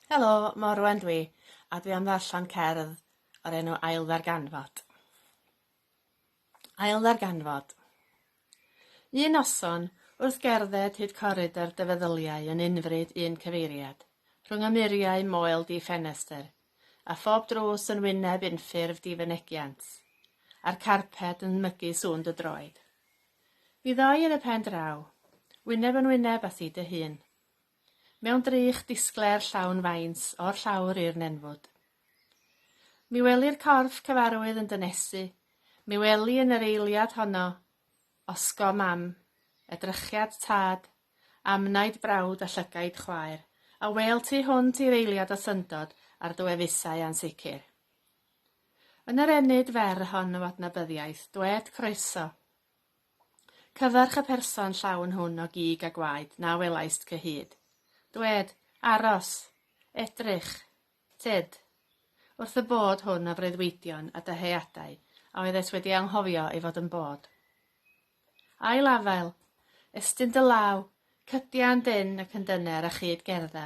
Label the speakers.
Speaker 1: Helo, Morwen dwi, a dwi am ddarllen cerdd o'r enw Ail Ddarganfod. Ail Ddarganfod. Un noson, wrth gerdded hyd coridor dy feddyliau yn unfryd un cyfeiriad, rhwng y muriau moel di ffenestr, a phob drws yn wyneb unffurf di fynegiant, a'r carped yn mygu sŵn dy droed. Fi ddau yn y pen draw. Wyneb yn wyneb a thi dy hun. Mewn drych disglair llawn faint o'r llawr i'r nenfwd. Mi weli'r corff cyfarwydd yn dynesu, mi weli yn yr eiliad honno, osgo mam, edrychiad tad, amnaid brawd a llygaid chwaer, a wel tu hwnt i'r eiliad o syndod a'r dwefusau ansicr. Yn yr ennyd fer hon o adnabyddiaeth, dwed Croeso! Cyfarch y person llawn hwn o gig a gwaed na welaist cyhyd. Dwed, Aros! Edrych! Tyd! Wrth y bod hwn o freuddwydion a dyheadau a oeddet wedi anghofio ei fod yn bod. Ail afael, estyn dy law, cydian dyn ac yn dyner a chyd gerdda.